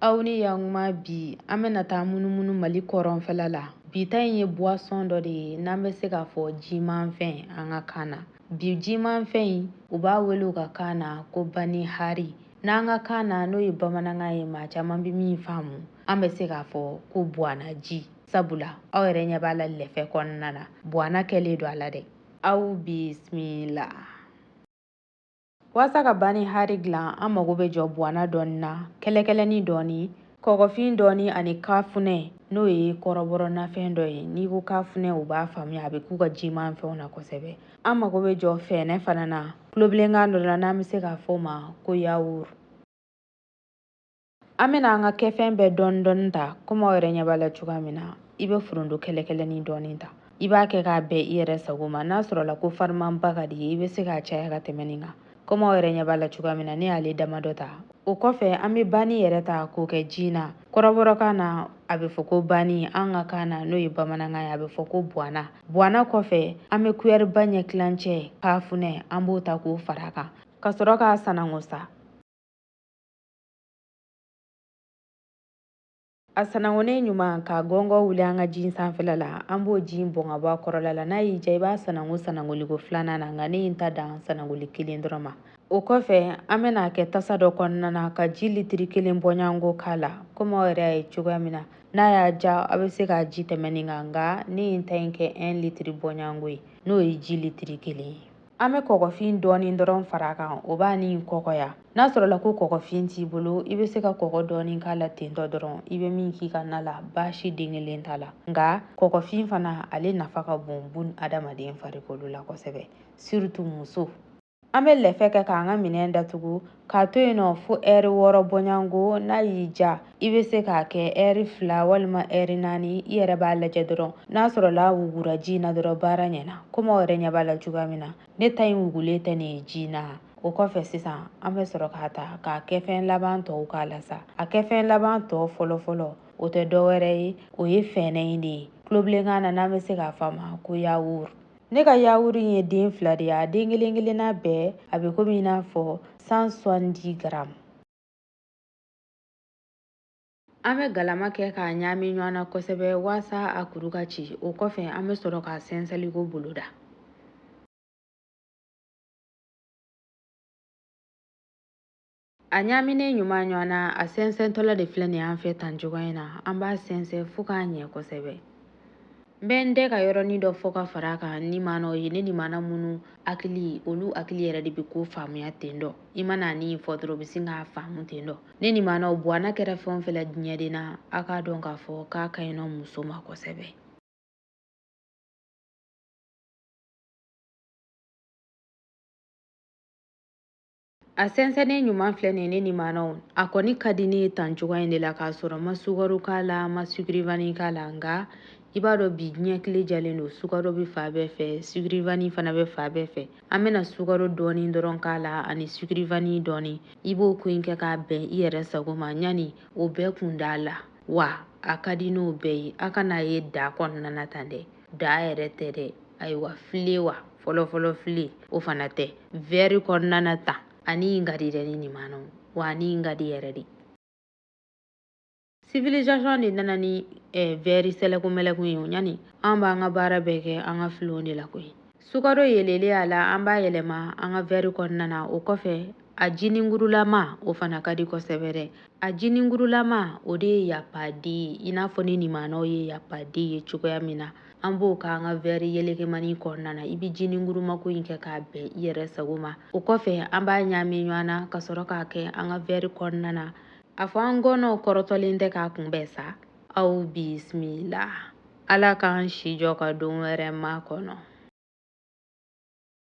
aw ni yankuma bi an bɛna taa munumunu mali kɔrɔnfɛla la bi ta in ye buwasɔn dɔ de ye n'an bɛ se k'a fɔ jimanfɛn an ka kan na bi jimanfɛn in u b'a wele u ka kan na ko bani hari n'an ka kan na n'o ye bamanankan ye maa caman bɛ min faamu an bɛ se k'a fɔ ko buwana ji sabula aw yɛrɛ ɲɛ b'a la lɛfɛ kɔnɔna na buwana kɛlen don a la dɛ aw bisimila Waasa ka bani hari dilan an mago bɛ jɔ buwana dɔɔni na kɛlɛkɛlɛni dɔɔni kɔgɔfin dɔɔni ani kafunɛ n'o ye kɔrɔbɔrɔ nafɛn dɔ ye n'i ko kafunɛ u b'a faamuya a bɛ k'u ka jimanfɛnw na kosɛbɛ an mago bɛ jɔ fɛnɛ fana na kulobilenkan dɔ la n'an bɛ se k'a fɔ o ma ko yawuru an bɛna an ka kɛfɛn bɛɛ dɔɔni dɔɔni ta komi aw yɛrɛ ɲɛ b'a la cogoya min na i bɛ foronto kɛlɛkɛlɛnin dɔɔni ta i b'a kɛ k'a bɛn i yɛrɛ sago ma n'a sɔrɔla ko farimanba ka di i ye i bɛ se k'a caya ka tɛmɛ nin kan komi aw yɛrɛ ɲɛ b'a la cogoya min na ne y'ale damadɔ ta o kɔfɛ an bɛ bani yɛrɛ ta k'o kɛ ji na kɔrɔbɔrɔkan na a bɛ fɔ ko bani an ka kan na n'o ye bamanankan ye a bɛ fɔ ko buwana buwana kɔfɛ an bɛ kuyɛriba ɲɛ tilancɛ kafunɛ an b'o ta k'o fara a kan ka sɔrɔ k'a sanango sa a sanangonen ɲuman ka gɔngɔ wuli an ka ji sanfɛla la an b'o ji in bɔn ka bɔ a kɔrɔla la n'a y'i ja i b'a sanango sanangoliko filanan na nka ne ye n ta dan sanangoli kelen dɔrɔn ma o kɔfɛ an bɛna a kɛ tasa dɔ kɔnɔna na ka ji litiri kelen bɔɲango k'a la komi aw yɛrɛ y'a ye cogoya min na n'a y'a ja aw bɛ se k'a ji tɛmɛ nin kan nka ne ye n ta in kɛ 1 litiri bɔɲango ye n'o ye ji litiri kelen ye An bɛ kɔgɔfin dɔɔni dɔrɔn fara a kan o b'a ni kɔgɔya n'a sɔrɔla ko kɔgɔfin t'i bolo i bɛ se ka kɔgɔ dɔɔni k'a la tentɔ dɔrɔn i bɛ min k'i ka na la baasi den kelen t'a la nka kɔgɔfin fana ale nafa ka bon bun adamaden farikolo la kosɛbɛ surtout muso an bɛ lɛfɛ kɛ k'an ka minɛn datugu k'a to yen nɔ fo ɛri wɔɔrɔ bɔɲango n'a y'i ja i bɛ se k'a kɛ ɛri fila walima ɛri naani i yɛrɛ b'a lajɛ dɔrɔn n'a sɔrɔla a wugura ji in na dɔrɔn baara ɲɛna komi aw yɛrɛ ɲɛ b'a la cogoya min na ne ta in wugulen tɛ nin ye ji in na o kɔfɛ sisan an bɛ sɔrɔ k'a ta k'a kɛfɛn laban tɔw k'a la sa a kɛfɛn laban tɔ fɔlɔfɔlɔ o tɛ dɔ wɛrɛ ye o ye fɛnɛ in de ye kulobilenkan na n'an bɛ se k'a fɔ a ma ko yawuru Ne ka yawuru in ye den fila de ye a den kelen kelenna bɛɛ a bɛ komi i n'a fɔ cent soixante grammes an bɛ galama kɛ k'a ɲaami ɲɔgɔn na kosɛbɛ waasa a kuru ka ci o kɔfɛ an bɛ sɔrɔ k'a sɛnsɛnliko boloda A ɲaaminen ɲuman ɲɔgɔn na, a sɛnsɛntɔla de filɛ nin an fɛ tan cogoya in na. An b'a sɛnsɛn fo k'a ɲɛ kosɛbɛ. N bɛ n dɛ ka yɔrɔnin dɔ fɔ ka fara a kan nimanaw ye ne nimana minnu hakili olu hakili yɛrɛ de bɛ ko faamuya ten dɔ i mana nin fɔ dɔrɔn u bɛ sin k'a faamu ten dɔ ne nimanaw buwana kɛra fɛn o fɛn la diɲɛden na a k'a dɔn k'a fɔ k'a ka ɲi nɔ muso ma kosɛbɛ a sɛnsɛnnen ɲuman filɛ nin ye ne nimanaw a kɔni ka di ne ye tan cogoya in de la k'a sɔrɔ n ma sukaro k'a la n ma sugurivani k'a la nka i b'a dɔn bi diɲɛ tile jalen don sukaro bɛ fan bɛɛ fɛ sugurivani fana bɛ fan bɛɛ fɛ an bɛna sukaro dɔɔni dɔrɔn k'a la ani sugurivani dɔɔni i b'o ko in kɛ k'a bɛn i yɛrɛ sago ma ɲani o bɛɛ kun d'a la wa a ka di n'o bɛɛ ye a kana ye da kɔnɔna na tan dɛ da yɛrɛ tɛ dɛ ayiwa filen wa fɔlɔfɔlɔ filen o fana tɛ vɛri kɔnɔna na tan ani in ka di dɛ ne nimanaw wa ani in ka di yɛrɛ de civilisation de nana ni eh, vɛri sɛlɛkunmɛlɛkun ye o ɲani an b'an ka baara bɛɛ kɛ an ka filenw de la koyi Sukaro yelelen a la an b'a yɛlɛma an ka vɛri kɔnɔna na o kɔfɛ a jiningurulama o fana ka di kosɛbɛ dɛ a jiningurulama o de ye yapadi ye i n'a fɔ ne nimanaw ye yapadi ye cogoya min na an b'o k'an ka vɛri yelekemani kɔnɔna na i bɛ jiningurumako in kɛ k'a bɛn i yɛrɛ sago ma o kɔfɛ an b'a ɲaami ɲɔgɔn na ka sɔrɔ k'a kɛ an ka vɛri kɔnɔna na a fɔ an gɔnɔw kɔrɔtɔlen tɛ k'a kunbɛn sa aw bisimila Ala k'an si jɔ ka don wɛrɛ makɔnɔ.